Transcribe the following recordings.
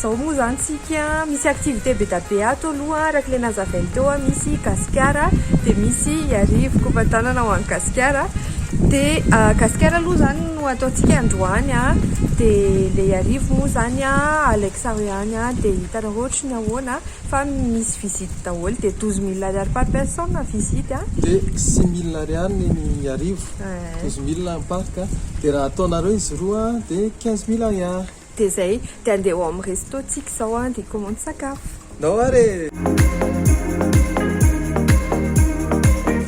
Zao moa zany tsika misy activité bedabe ato aloha araka ilay nazavainy teo a, misy Gasikara dia misy Iarivo kopatanana ho an'i Gasikara dia Gasikara aloha zany no ataontsika androany a, dia ilay Iarivo moa zany a Alex aho ihany a, dia hitanareo ohatry ny ahoana fa misy visite daholo dia douze mille ariary par personne visite a. Dia six mille ariary ny an'i Iarivo, douze mille ny parc a, dia raha ataonareo izy roa dia quinze mille ariary. Dia izay, dia andeha ao amin'ny resto tsika izao an, dia hikomandy sakafo. Ndao ary e!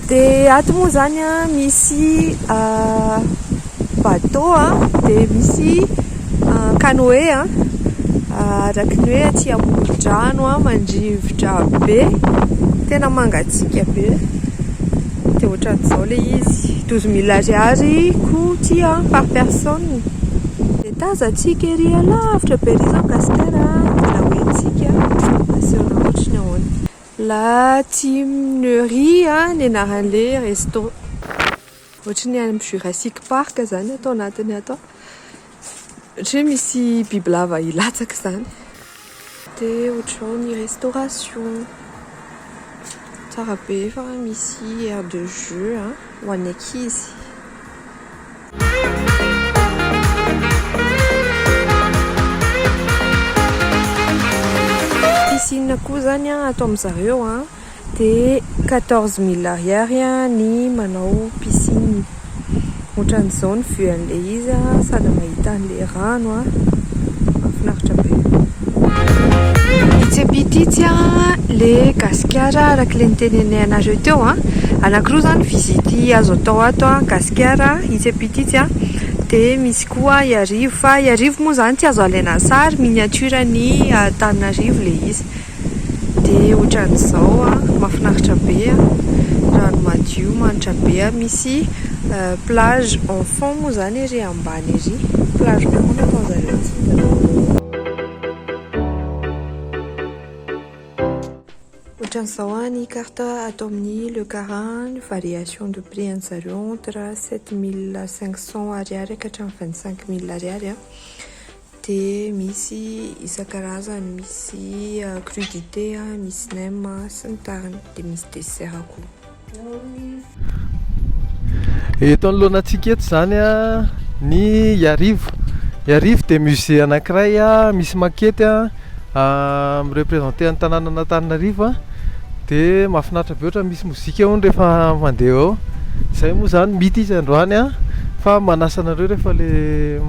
Dia ato moa izany an, misy bateau an, dia misy canoe an, araka ny hoe aty amoron-drano an, mandrivotra be, tena mangatsiaka be, dia ohatran'izao ilay izy, douze mille ariary koa ity an, par personne. Tazantsika ery alavitra be ery izao gasikara mila hoe tsika aseo raha ohatry ny ahoana. La Timunerie ny anaran'le resto. Ohatry ny any Jurassic Park zany ato anatiny ato. Ohatry ny hoe misy bibilava hilatsaka izany. Dia ohatr'izao ny restauration. Tsara be fa misy aire de jeux a, ho an'ny ankizy. Piscine koa izany ato amin'izareo a. Dia quatorze mille ariary ny manao piscine. Otran'izao ny vue an'ilay izy a! Sady mahita an'ilay rano a! Mahafinaritra be. Itsy am pitsy itsy a! Le Gasikara araka le nitenenay anareo teo a! Anakiroa zany visite azo atao ato a! Gasikara itsy am pitsy itsy a! De misy koa Iarivo fa Iarivo moa zany tsy azo alaina sary, miniature an'i Antananarivo le izy. dia ohatran'izao a, mahafinaritra be a, rano madio manitra be a, misy plage en fond moa izany ery ambany ery, plage en fond no ataon'ny zareo tsindry. Ohatran'izao a ny carte ato amin'ny Le Carin, ny variation de prix an'ny zareo entre sept mille cinq cents ariary ka hatramin'ny vingt cinq mille ariary a, Dia misy isan-karazany, misy crudité, misy nem sy ny tariny. Dia misy dessert koa. Eto anoloana antsika eto izany ny Iarivo. Iarivo dia musée anankiray misy maquette. Mi-representer an'i Tanànan'Antananarivo a, de mahafinaritra be ohatra misy mozika hono rehefa mandeha eo, zay moa zany mity izy androany a, fa manasa anareo rehefa le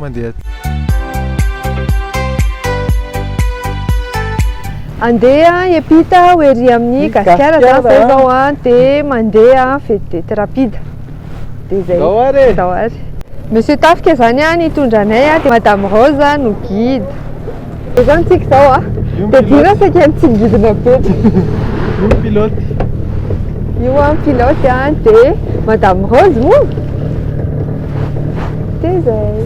mandeha aty. Andeha hiampita ho ery amin'ny Gasikara zany zay izao a, de mandeha vedette rapide, de zay, ndao ary e, ndao ary. Monsieur Tafika zany a nitondra anay a, de Madame Rose no guide. Dia izao ny tsiky izao a. Dia dira saika mitsingidina be. Io ny pilote. Io an pilote an dia Madame Rose moa. Dia izay.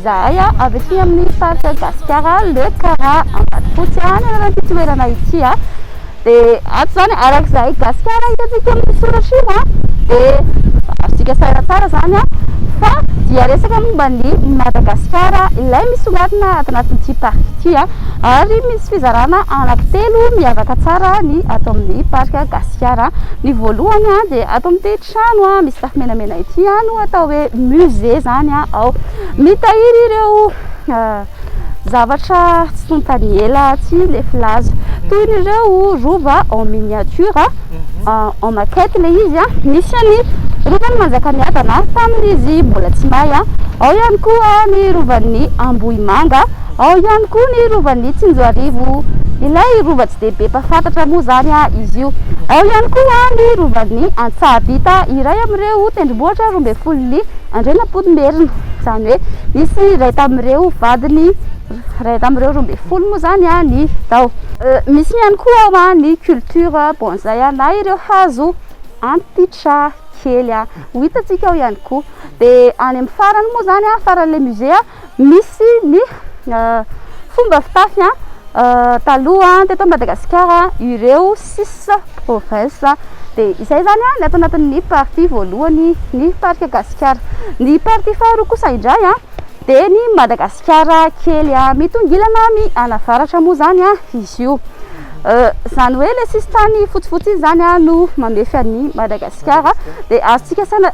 Izahay avy aty amin'ny faritra Gasikara, Le Kara, Ambatofotsy, any anaran'ity toerana ity. dia ato izany araka izay gasikara hitantsika amin'ny soratra io an dia azontsika sahira tsara izany an fa dia resaka momba ny madagasikara ilay misongadina ato anatin'ity parka ity an ary misy fizarana anankitelo miavaka tsara ny ato amin'ny parka gasikara ny voalohany an dia ato amin'ity trano an misy tafo menamena ity an no atao hoe musée izany an ao mitahiry ireo Zavatra tsy tonta ny ela tsy le filaza. Toy ny ireo rova en miniature, en en maquette ilay izy a. Misy any Rovan'i Manjakamiadana tamin'izy mbola tsy may a. Ao ihany koa ny Rovan'ny Ambohimanga, ao ihany koa ny Rovan'ny Tsinjoarivo. Ilay rova tsy dia be mpahafantatra moa izany a izy io. Ao ihany koa ny Rovan'ny Antsahabita, iray amin'ireo tendrombohitra roa ambin'ny folo li. Andrianampoinimerina, izany hoe nisy iray tamin'ireo vadiny iray tamin'ireo roa ambin'ny folo moa izany ny tao. Misy ihany koa ny culture bonsai na ireo hazo antitra kely ho hitantsika ao ihany koa. Dia any amin'ny farany moa izany, faran'ilay musée, Misy ny fomba fitafy taloha teto Madagasikara ireo cis bovins dia izay izany ny ato anatin'ny partie voalohany ny parc gasikara. Ny partie faharoa kosa indray dia ny Madagasikara kely mitongilana mianavaratra moa izany izy io. Izany hoe ilay sisintany fotsifotsy iny izany no mamefy an'i Madagasikara dia azontsika saina.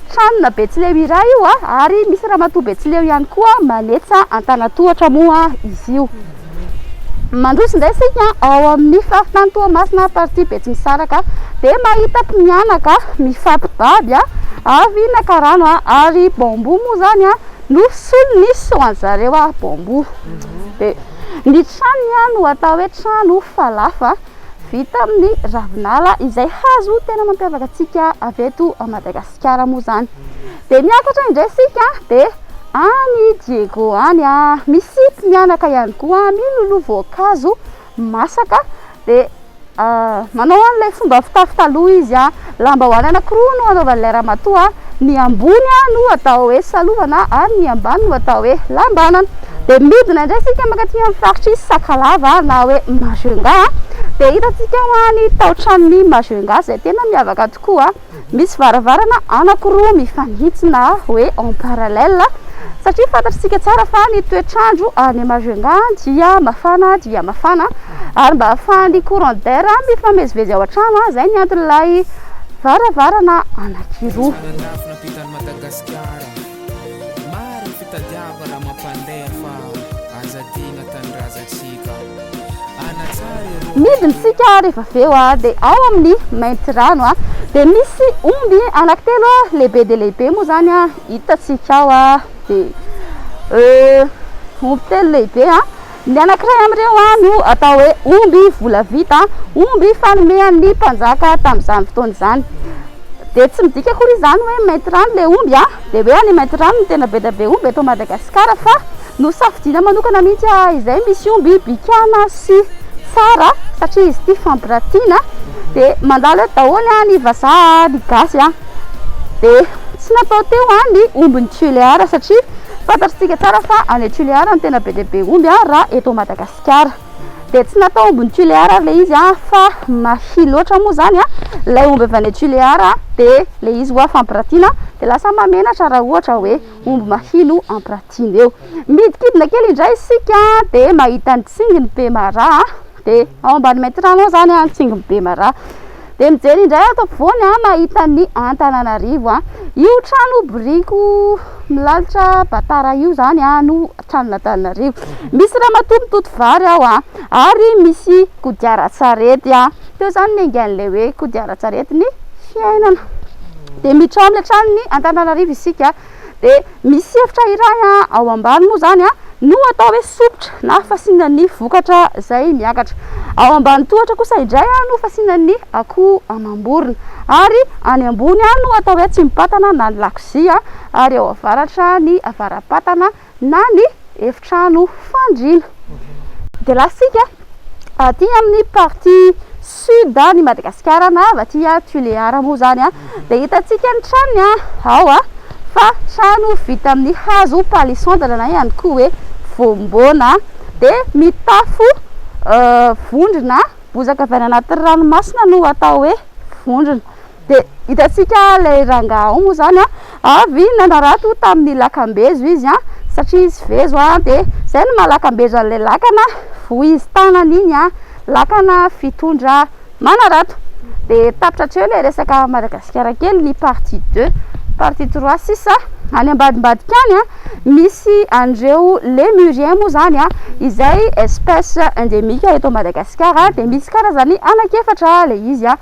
Tranona Betsileo iray io ary misy ramatoa Betsileo ihany koa manetsa an-tanan-tohatra moa izy io. Mandroso indray isika ao amin'ny faritany Toamasina partie Betsimisaraka dia mahita mpimianaka mifampibaby avy naka rano ary bambou moa izany no solony so an'ny zareo bambou dia ny tranony no atao hoe trano falafa. vita amin'ny ravinala izay hazo tena mampiavaka antsika avy eto Madagasikara moa izany. Dia miakatra indray isika dia any Diego any ah. Misy mianaka ihany koa miloloha voankazo masaka dia ah, manao an'ilay fomba fitafy taloha izy ah. Lambahoany anankiroa no anaovan'ilay ramatoa, ny ambony no atao hoe salovana ary ny ambany no atao hoe lambanana. Dia midina indray isika mankaty amin'ny faritr'i Sakalava na hoe Majunga, dia hitantsika ao ny taotranon'i Majunga izay tena miavaka tokoa, misy varavarana anankiroa mifanitsina hoe en parallèle satria fantatr'isika tsara fa ny toetr'andro any Majunga dia mafana dia mafana. ary mba ahafahan'ny courant d'air mifamezivezy ao an-trano, izay ny anton'ilay varavarana anankiroa. Midina isika rehefa avy eo dia ao amin'ny Maintirano dia misy omby anankitelo lehibe dia lehibe moa izany hitantsika ao dia omby telo lehibe. Ny anankiray amin'ireo no atao hoe omby volavita, omby fanomehan'ny mpanjaka tamin'izany fotoana izany. Dia tsy midika akory izany hoe mainty rano ilay omby, dia hoe any mainty rano no tena be dia be omby eto Madagasikara, fa nosafidiana manokana mihitsy izay misy omby bikàna sy tsara, satria izy ity fampiratiana, dia mandalo eto daholo ny vazaha, ny gasy. Dia tsy natao teo an ny ombin'i Tuléar satria fantatr'tsika tsara fa any Tuléar no tena be dia be omby an raha eto Madagasikara. Dia tsy natao ombin'i Tuléar ary ilay izy an fa mahia loatra moa izany an ilay omby avy any Tuléar dia ilay izy hoa fampiratiana dia lasa mahamenatra raha ohatra hoe omby mahia no ampiratiana eo. Midikidina kely indray isika dia mahita ny tsinginy Pemara. be ao ambany maintirano ao zany an tsingy be mara dia mijery indray ato ampovoany an mahita ny antananarivo an io trano biriko milalitra batara io zany an no tranon'antananarivo misy ramatoa mitoto vary ao an ary misy kodiaran-tsarety an teo zany ny aingan'ilay hoe kodiaran-tsarety ny fiainana dia mitraomy hatrany ny antananarivo isika Dia misy hevitra iray ao ambany moa izany no atao hoe sompitra na fasiana ny vokatra izay miakatra. Ao ambany tohatra kosa indray no fasiana ny akoho amam-borona. Ary any ambony no atao hoe atsimpatana na ny lakozia ary ao avaratra ny avara-patana. na ny efitrano fandriana. Dia latsika aty amin'ny partie sud ny Madagasikara na avy aty Tuléar moa izany dia hitantsika ny tranony ao fa trano vita amin'ny hazo palissandre na ihany koa hoe voamboana dia mitafo vondrona bozaka avy any anaty ranomasina no atao hoe vondrona. Dia hitantsika ilay rangahy ao moa izany an, avy nanarato tamin'ny lakambezo izy an, satria izy vezo an, dia izay no maha lakambezo an'ilay lakana vohizo tanana iny an, lakana fitondra manarato. Dia tapitra hatreo ilay resaka Madagasikara kely, ny partie deux, partie trois sisa any ambadimbadika any an, misy an'ireo Lémuriens moa izany an, izay espèce endémique eto Madagasikara, dia misy karazany anankiefatra ilay izy an.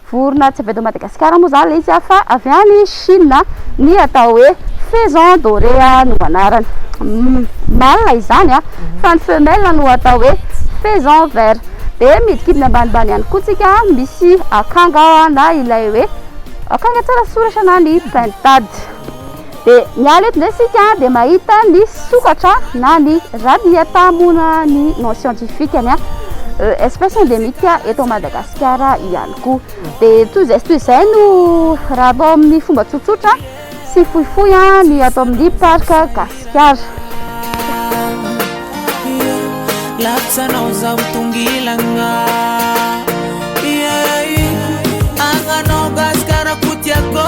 Vorona tsy avy eto Madagasikara moa izany ilay izy fa avy any Chine, ny atao hoe faison doré no anarany. Mâle izany fa ny femelle no atao hoe faison vert. Dia midikidina ambanimbany ihany koa tsika misy akanga na ilay hoe akanga tsara soratra na ny pintade. Dia miala eto indray isika dia mahita ny sokatra na ny Radiata moana ny nom scientifique ny espèce endémique eto Madagasikara ihany koa. Dia toy izay sy toy izay no raha atao amin'ny fomba tsotsotra sy fohifohy ny ato amin'ny parc Gasikara. Lapsanao zaho tongilagna Agnanao Gasikara ko tiako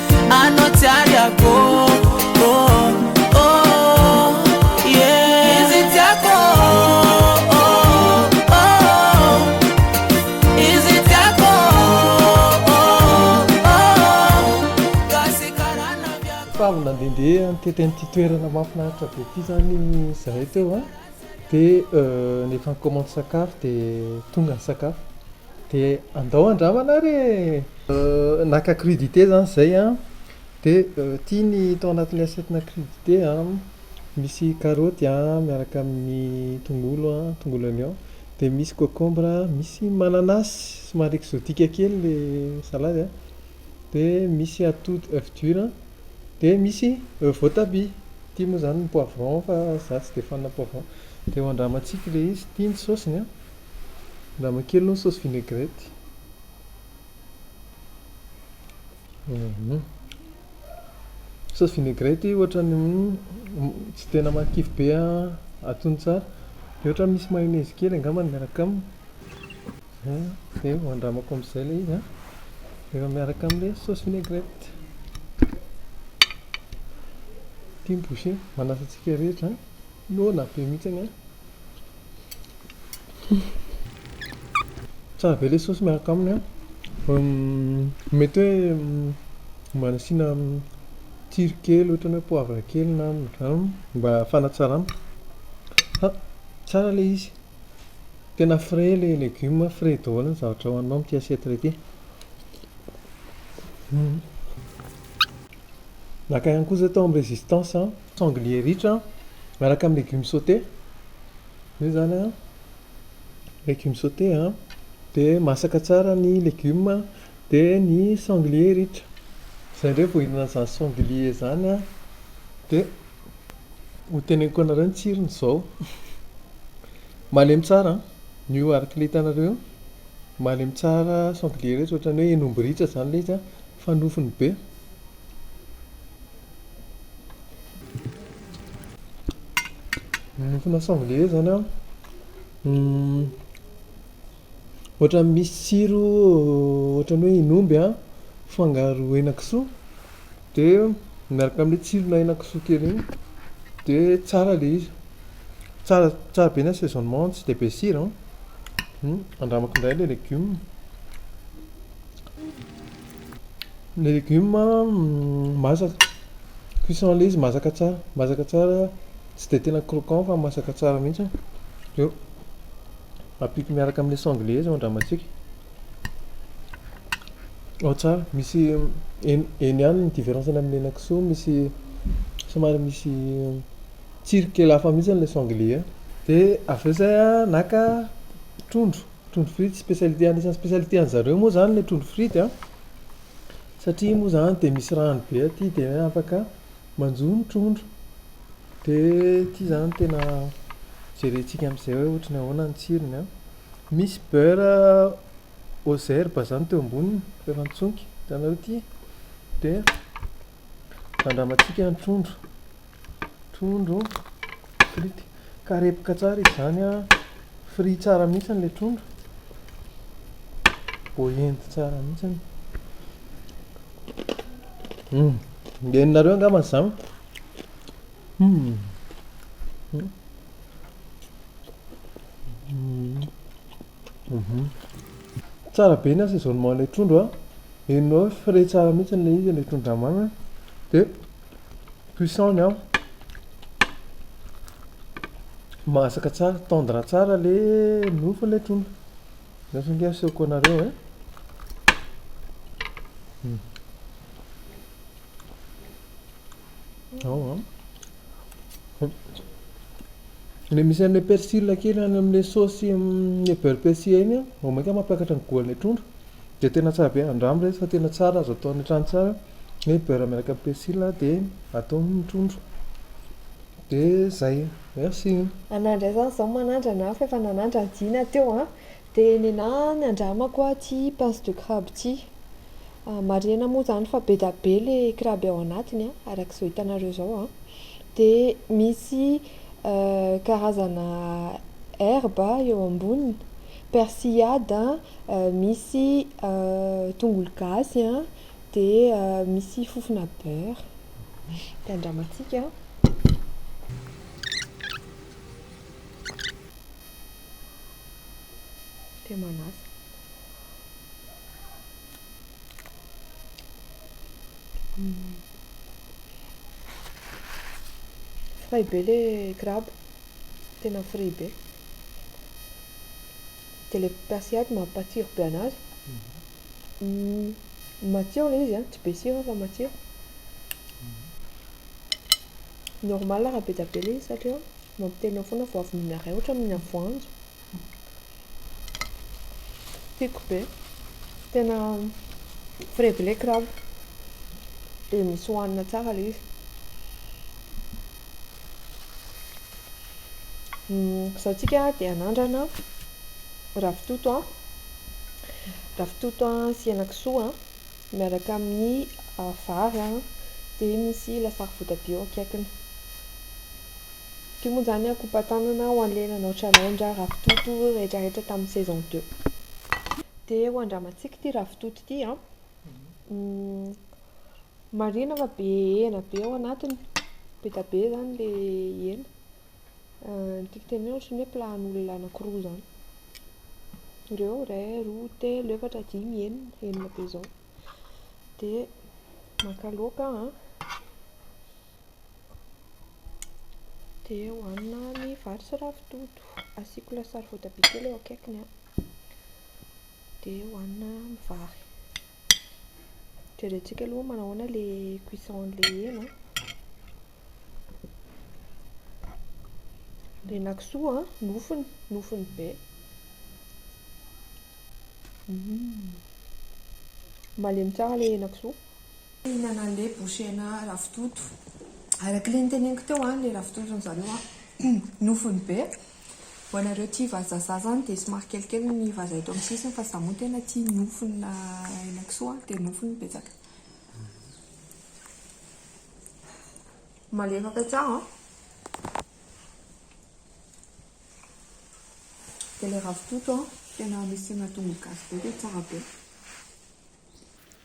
Anao tsy ariako oh, oh, oh, yeah. Izy tiako oh, oh, oh. Izy tiako oh, oh, oh. Gasy karana viako Fa avy nandehandeha nitety an'ity toerana mahafinaritra be ity zany zahay teo a, de euh ny efa nikomandy sakafo de tonga ny sakafo. De andao andramana ary e! Naka crudité zany zay an, de ity ny tao anatin'ny assiette na crudité an, misy karaoty an miaraka amin'ny tongolo an, tongolo oignon, dia misy concombre an, misy mananasy, somary exotique kely le salady an, dia misy atody oeuf dur an, dia misy voatabia, ity moa zany ny poivron fa za tsy dia fan poivron, dia ho andramantsika ilay izy, ity ny saosiny an. Andramo kely ny saosy vinaigrette. Saosy vinaigrette ohatran'ny tsy tena mahakivy be atony tsara. Dia ohatran'ny misy mayonnaise kely angamba miaraka aminy. Dia andramako amin'izay ilay izy an. Rehefa miaraka amin'ilay saosy vinaigrette. Ity ny bouchée. Manasa antsika rehetra an. Noana be mihitsy anie an. Tsara be ilay saosy miaraka aminy an. Mety hoe mba nasiana tsiro kely ohatran'ny hoe poivre kely na rano mba fanatsarana. Fa tsara ilay izy. Tena frais ilay legioma, frais daholo ny zavatra hohaninao amin'ity assiette iray ity. Naka ihany koa zay tao amin'ny résistance an. Sanglier ritra miaraka amin'ny légumes sautés. Zay zany an. Légumes sautés an. Dia masaka tsara ny légumes dia ny sanglier ritra. Zay indray vao hihinana an'izany sanglier izany an. Dia ho teneniko anareo ny tsirony izao. Malemy tsara an. Ny io araka ilay hitanareo io. Malemy tsara sanglier ritra ohatran'ny hoe hen'omby ritra izany ilay izy an. fa nofony be. Nofona sanglier zany an, ohatran'ny misy tsiro ohatran'ny hoe iny omby an, fangaro henakisoa, dia miaraka amin'ny tsirona henakisoa kely iny, dia tsara ilay izy. Tsara tsara be ny assaisonnement, tsy dia be sira an. Andramako indray ilay legioma. Ny legioma masaka, cuisson ilay izy masaka tsara, masaka tsara, tsy dia tena croquant fa masaka tsara mihitsy, avy eo ampiako miaraka amin'ilay sanglais izy ao an-dramatsiko, ao tsara, misy eny eny ihany ny différence-ny amin'ny henakisoa, misy somary misy tsiro kely hafa mihitsy ilay sanglais, dia avy eo izay aho naka trondro. Trondro frity spécialité anisan'ny spécialité an'i zareo moa zany le trondro frity a, satria iny moa zany dia misy rano be aty dia hoe afaka manjo ny trondro, dia ity zany no tena jerentsika amin'izay hoe ohatran'ny ahoana ny tsirony a. Misy beurre aux herbes zany teo amboniny rehefa mitsonika, hitanareo ity, dia andramantsika ny trondro. Trondro, frity. Karepoka tsara izy izany an. Fry tsara mihitsy ilay trondro. Voaendy tsara mihitsy. Hum. Dia ny nareo angamba izany. Hum. Mhm. Tsara be ny assaisonnement ilay trondro an. Henonao hoe frais tsara mihitsy ilay izy ilay trondro andramanina. Dia. Cuisson ny an. Masaka tsara, tendre tsara le nofo le trondro. Nefa nge asehoko anareo eh. Hmm. Ao an. Le misy an'le persil kely any amin'le saosy le beurre persil iny an, vao mainka mampiakatra ny goût an'le trondro. De tena tsara be, andramo re fa tena tsara azo atao any an-trano tsara. Ny beurre miaraka amin'ny persil dia atao ny trondro dia zay. Merci. Anah indray zany zao manandrana an, fa efa nanandrana Dina teo an, dia nenah ny andramako an ity pince de crabe ity, marihina moa zany fa be dia be le crabe ao anatiny an, araka izao hitanareo zao an, dia misy karazana herbe eo amboniny, persillade an, misy tongolo gasy an. Dia misy fofona beurre. Dia andramantsika. Dia manasa. Frais be le crabe, tena frais be. Dia le pasiaty mampatsiro be anazy. Matsiro ilay izy a, tsy be sira fa matsiro. Normal raha be dia be ilay izy satria mampiteny ao foana fa ho avy mihinan'iray ohatra mihinana voanjo. Tiako be. Tena frebleck raha dia misy hohanina tsara ilay izy. Izao isika dia hanandrana ravitoto a. Ravitoto sy henakisoa an, miaraka amin'ny vary an, dia misy lasary votabia eo akaikiny. Ity moa izany an, kopatanana ho an'ilay nanao challenge ravitoto rehetrarehetra tamin'ny saison deux. Dia ho andramantsika ity ravitoto ity an, marihina fa be hena be ao anatiny, be dia be izany ilay hena. Ny tiako tenenina ohatran'ny hoe plan olona anankiroa izany, ireo iray, roa, telo, efatra, dimy, enina, enina be izao, dia maka laoka aho an, dia hohanina ny vary sy ravitoto, asiako lasary voatabia kely eo akaikiny an, dia hohanina amin'ny vary. Jerentsika aloha hoe manahoana le cuisson an'le hena. Le henakisoa an, nofony, nofony be. Mm. Malemy tsara le henakisoa. Hihinana an'le bouche hena ravitoto. Araka le niteneniko teo an, le ravitoto an'zareo an, nofony be. Ho anareo tia vazazaha zany dia somary kelikely ny vazaha eto amin'ny sisiny fa za moa tena tia nofona henakisoa dia nofony betsaka. Malefaka tsara an! Dia ilay ravitoto an, tena misy tongolo gasy be dia tsara be.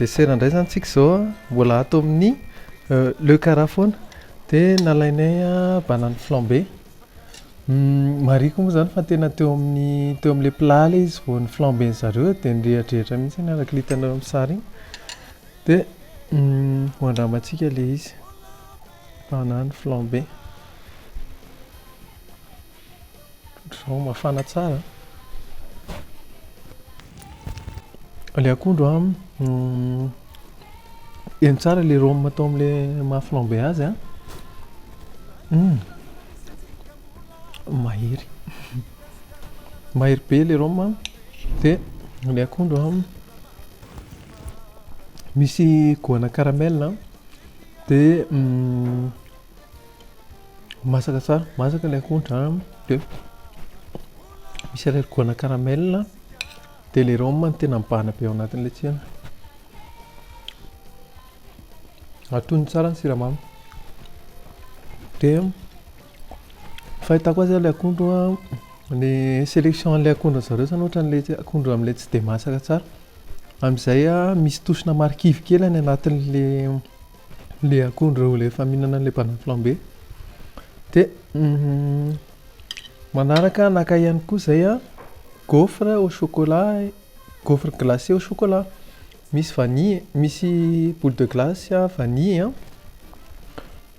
desera indray zany tsika zao a mbola ato amin'ny euh, le cara foana de nalainay a banany flambe hmm, mariko moa zany fa tena teo amin'ny teo am'le plat le izy vao ny flambe ny zareo de nyrehadrehatra mihitsy ny arak'litanareo amin'ny sary igny Dia ho andramantsika ilay izy, banane flambée. Ohatr'izao, mafana tsara. Ilay akondro an, heno tsara ilay rhum atao amin'ilay maha flambée azy an. Mahery. Mahery be ilay rhum dia ilay akondro an. Misy goana caramel a, dia masaka tsara, masaka ilay akondro a, dia misy irery goana caramel a, dia ilay rhum no tena mibahana be ao anatin'ilay tsirony. Atono tsara ny siramamy. Dia ny fahitako azy ilay akondro a, ny selection an'ilay akondro an'i zareo izany ohatran'ny ilay akondro amin'ilay tsy dia masaka tsara. Amin'izay misy tosina marikivy kely any anatin'ilay akondro rehefa ilay efa mihinana an'ilay banane flambée. Dia manaraka naka ihany koa izay aho gaufre au chocolat, gaufre glacé au chocolat. Misy vanille, misy boule de glace vanille.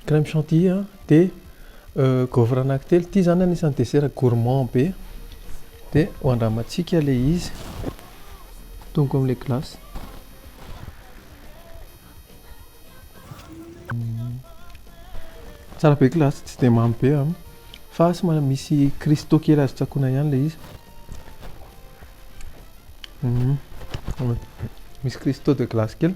Crème chantilly a de gaufre anankitelo, ity zany anisany dessert gourmand be de ho andramantsika le izy, atomiko amle glace. Tsara be glace tsy de mamy be a fa somary misy cristaux kely azo tsakoana ihany le izy, misy cristaux de glace kely.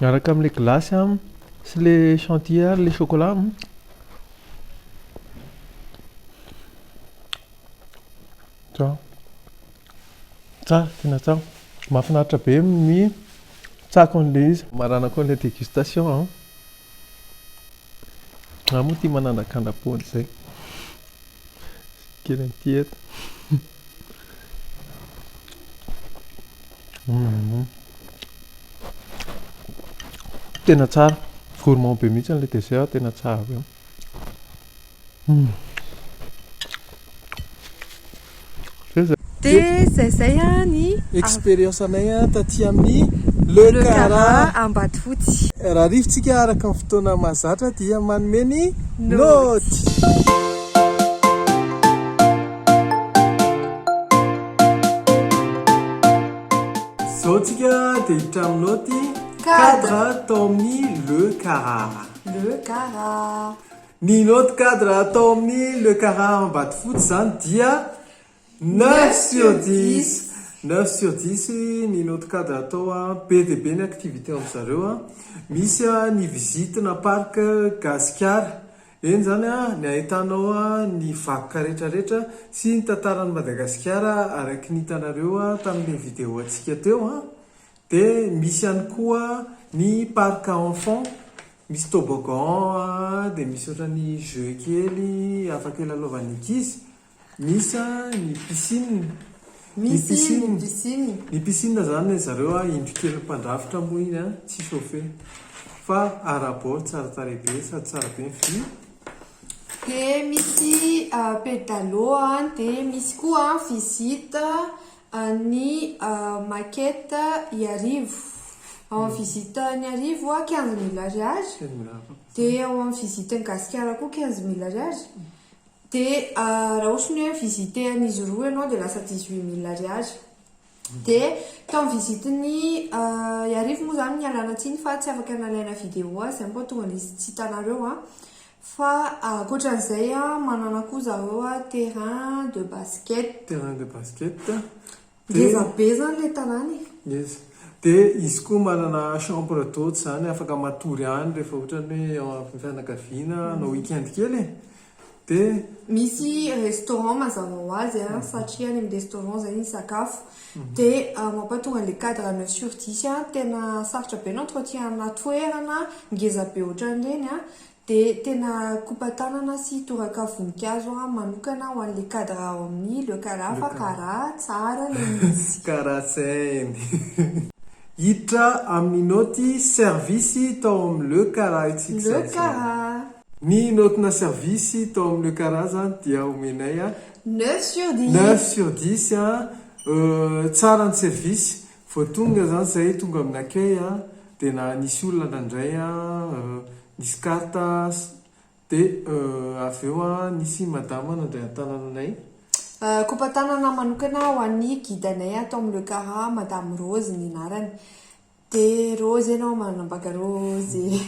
Miaraka amle glace a sy le chantilly ary le chocolat a. Tsara. Tsara, tena tsara. Mahafinaritra be ny tsako an'ilay izy. Maranako an'ilay dégustation an. Za moa tia manandrakandra pony zay. Kely an'ity eto. Tena tsara, gourmand be mihitsy ilay dessert, tena tsara be. Dia izay izay ny expérience anay taty amin'ny Le Cara Ambatofotsy. Raha arivotsika araka ny fotoana mahazatra dia manome ny naoty. Izao tsika dia hiditra amin'ny naoty cadre tao amin'ny Le Cara. Le Cara. Ny note cadre tao amin'ny Le Cara Ambatofotsy izany dia neuf sur dix! Neuf sur dix ny note cadre atao an! Be dia be ny activité an-dry zareo an! Misy an ny visite na parc Gasikara, eny izany an ny ahitanao an ny vakoka rehetra rehetra sy ny tantaran'i Madagasikara araky ny hitanareo tamin'ilay vidéo antsika teo an! Dia misy ihany koa ny parc enfant. Misy toboggan an, dia misy ohatran'ny jeux kely afaka hilalaovan'ny ankizy, misy an ny piscine, ny piscine, ny piscine izany ry zareo an indro kelin'ny mpandrafitra moa iny an, tsy chauffe fa ara-bord tsara tarehy be sady tsara be ny vue. Dia misy pedalo an, dia misy koa visite An'i Maquette Iarivo. Ao amin'ny visitan'i Iarivo, quinze mille ariary, dia ao amin'ny visitan'i Gasikara koa quinze mille ariary, dia raha ohatra ny hoe mi-visiter an'izy roa ianao dia lasa dix huit mille ariary. Dia tao amin'ny visitan'i Iarivo moa izany, mialana tsiny fa tsy afaka nalaina vidéo azy, izany vao tonga dia tsy hitanareo an. Fa ankoatran'izay manana koa zareo terrain de basket. Terrain de basket. Ngeza be izany ilay tanàna e. Ngeza. Dia izy koa manana chambre d'hôte izany afaka matory any rehefa ohatran'ny hoe ao amin'ny fianakaviana hanao week-end kely e. Dia. Misy restaurant mazava ho azy a, satria any amin'ny restaurant izay ny sakafo. Dia mampahatonga an'ilay cadre an'i Sur Dish tena sarotra be ny entretien-na toerana ngeza be ohatran'ireny a. Dia tena kopa-tanana sy toraka voninkazo manokana ho an'ilay cadre ao amin'ny Le Kara fa kara tsara ilay izy. Kara saint. Hiditra amin'ny naoty servisy tao amin'ny Le Kara isika izao. Le Kara. Ny naotina servisy tao amin'ny Le Kara izany dia omenay. Neuf sur dix. Neuf sur dix. Tsara ny servisy. Vao tonga zany zahay tonga amin'ny accueil a, de na nisy olona ndraindray a nisy carte a, de avy eo a nisy madama nandray an-tanana anay. Kopa-tanana manokana ho an'ny guide-nay ato amin'ny Le Cara, Madame Rose ny anarany. De Rose enao manambaka Rose e!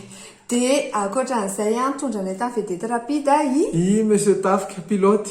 De ankoatran'izay a, nitondra anay tamin'ny vedette rapide i. I Monsieur Tafika, pilote.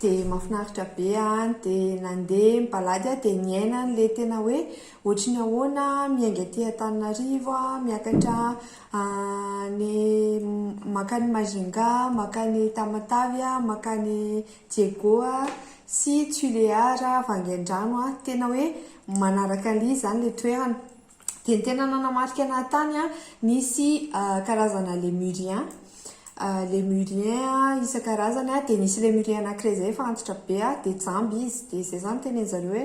dia mafinaritra be an, dia nandeha mipalady aho dia niaina an'ilay tena hoe ohatry ny ahoana miainga aty Antananarivo a, miakatra any mankany Majunga, mankany Tamatave a, mankany Diego a, sy Tuléar a, Vangaindrano a, tena hoe manaraka an'ilay izy izany ilay toerana. dia ny tena nanamarika anah tany a nisy karazana lemurien lemurien isan-karazany a dia nisy lemurien anankiray izay efa antitra be a dia jamby izy dia izay izany tenen-dry zareo hoe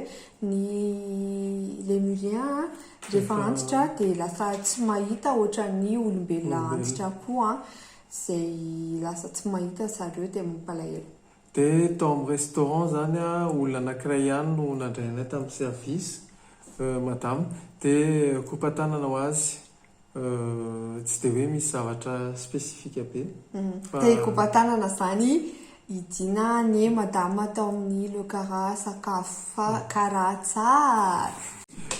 ny lemurien a rehefa antitra dia lasa tsy mahita ohatran'ny olombelona antitra koa izay lasa tsy mahita zareo dia mampalahelo Dia tao amin'ny restaurant izany an, olona anankiray ihany no nandray anay tamin'ny service, madama, dia kopa-tanana ho azy, tsy dia hoe misy zavatra spécifique be fa. Dia kopa-tanana izany hidiana anie madama tao amin'ny le kara sakafo fa kara tsara.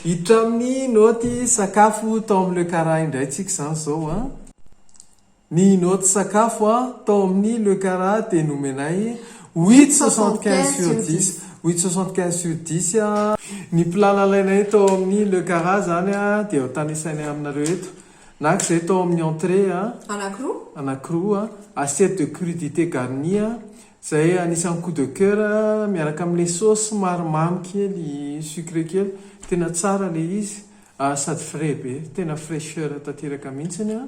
Hiditra amin'ny naoty sakafo tao amin'ny le kara indray tsika izany izao an. Ny naoty sakafo a tao amin'ny Le Cara dia nomenay huit soixante quinze sur dix, huit soixante quinze sur dix a. Ny plat nalainay tao amin'ny Le Cara izany a dia ho tanisainay aminareo eto. Naka izay tao amin'ny entrée a, Anankiroa. anankiroa a, assiette de crudité garnie a, izay anisan'ny coup de coeur a, miaraka amin'ilay sauce somary mamy kely, sucré kely. Tena tsara ilay izy, ary sady frais be. Tena fraicheur tanteraka mihitsy a.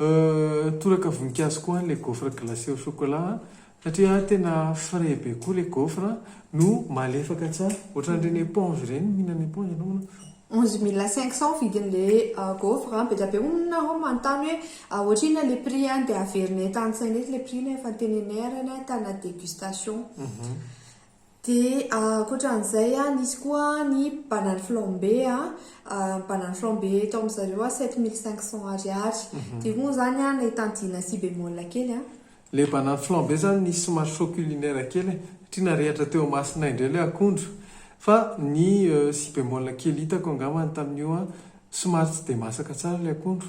Euh toraka voninkazo koa le gaufre glacé au chocolat a! Satria a tena frais be koa le gaufre no malefaka tsara. Ohatran'ireny éponge ireny, mihinana éponge ianao moa ve? Onze mille cinq cents vidin'le gaufre a! Bedabe hono nareo no manontany hoe ohatra inona le prix a! Dia averinay tantsaina eto le prix nefa teneninay ary anie ahitana dégustation. Dia ankoatran'izay an, nisy koa ny banane flambé an, banane flambé eto amin-dry zareo an sept mille cinq cents ariary. Dia hono izany an, nahitany dina sy bémol kely an. Ilay banane flambé izany nisy somary choc culinaire kely e, satria narehitra teo imasonay indray ilay akondro. Fa ny sy bémol kely hitako angambany tamin'io an, somary tsy dia masaka tsara ilay akondro.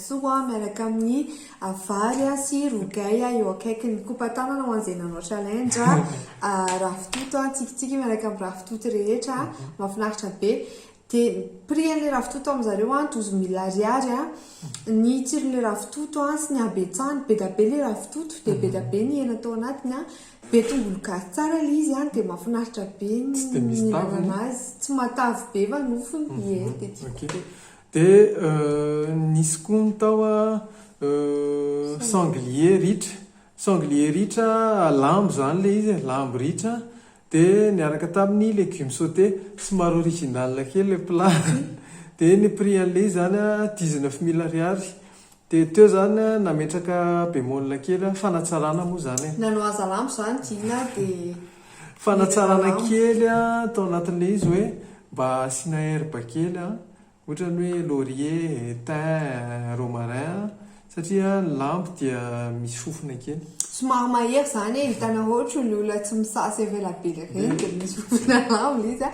soa miaraka amin'ny vary sy rogay eo akaikiny. Kopa tanana ho an'izay nanao challenge. Ravitoto, tsikitsiky miaraka amin'ny ravitoto rehetra. Mahafinaritra be. Dia ny prix-n'ilay ravitoto amin-dry zareo, douze mille ariary. Ny tsiron'ilay ravitoto sy ny habetsahany, be dia be ilay ravitoto, dia be dia be ny hena tao anatiny. Be tongolo gasy tsara ilay izy, dia mahafinaritra be ny mihinana azy. Tsy matavy be fa nofony, ie, dia tiako be. Dia nisy koa ny tao sanglier ritra. Sanglier ritra, lambo izany ilay izy e, lambo ritra dia niaraka tamin'ny légumes sautés. Somary original kely ilay plat. Dia ny prix an'ilay izy izany dix-neuf mille ariary. Dia teo izany nametraka bémol kely aho, fanatsarana moa izany e. Nanao aza lambo izany Gina dia. Fanatsarana kely aho tao anatin'ilay izy hoe mba asiana herbe kely an, ohatra ny hoe laurier, thym, romarin an, satria ny lambo dia misy fofona kely. Somary mahery izany e, hitanareo ohatry ny olona tsy misasa ela be ireny dia misy fofona lambo ilay izy an,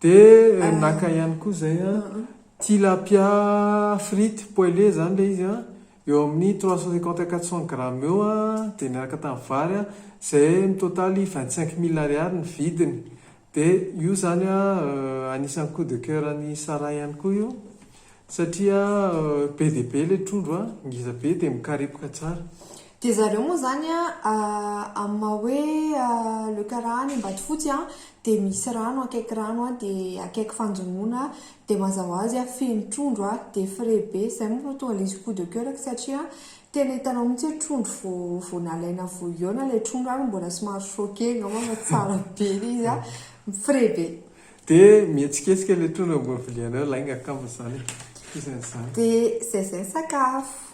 Dia naka ihany koa izay tilapia frite poêlée izany ilay izy eo amin'ny trois cent cinquante à quatre cent grammes eo dia niaraka tamin'ny vary izay mitotaly vingt cinq mille ariary ny vidiny. Dia io izany anisan'ny coup de coeur an'i Sarah ihany koa io Satria be dia be ilay trondro a, ngeza be dia mikarepoka tsara. Dia zareo moa izany a, amin'ny maha hoe le karaha any Ambatofotsy a, dia misy rano akaiky rano a, dia akaiky fanjonoana a, dia mazava ho azy a feno trondro a, dia frais be, izay moa no tonga ilay izy coup de coeur-ko satria tena hitanao mihintsy hoe trondro vao vao nalaina vao hihaona ilay trondro ary mbola somary chaud kely angamba fa tsara be ilay izy a, frais be. De mihetsiketsika le trondro ambony vilia anao lainga akama izany e. Iza izany? De zay zay sakafo.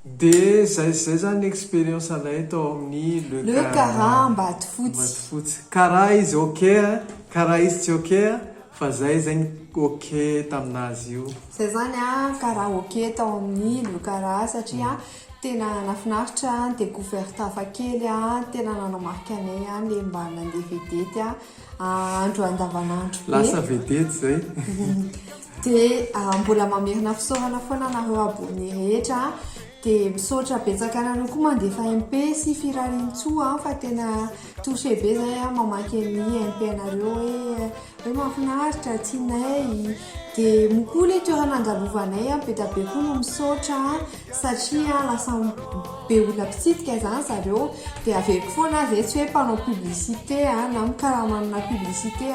De zay zay zany experience anay tao amin'ny Le Cara. Le Cara Ambatofotsy. Ambatofotsy. Cara izy ok a, Cara izy tsy ok a, fa zay zay ny ok taminazy io. Zay zany a, Cara ok tao amin'ny Le Cara satria tena nafinaritra ny decouverte hafa kely a, tena nanamarika anay le mba nandeha vedety a. Ahandro andavanandro be. Lasa vedety zay. Dia mbola mamerina fisaorana foana anareo abonné rehetra. Dia misaotra betsaka anareo koa mandefa MP sy firariantsoa fa tena touché be zay aho mamaky an'ny MP anareo hoe hoe mahafinaritra, tsy nay. Dia moa koa ilay toerana andalovanay be dia be koa no misaotra. satria lasa be olona mpitsidika zany zareo dia averiko foana aza etsy hoe mpanao publicité na mikarama amina publicité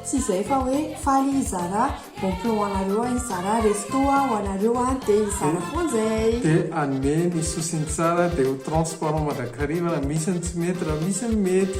tsy izay fa hoe faly hizara bon plan ho anareo aho hizara resto aho ho anareo aho dia hizara foana izay dia hanome ny sosiny tsara dia ho transparent mandrakariva raha misy ny tsy mety raha misy ny mety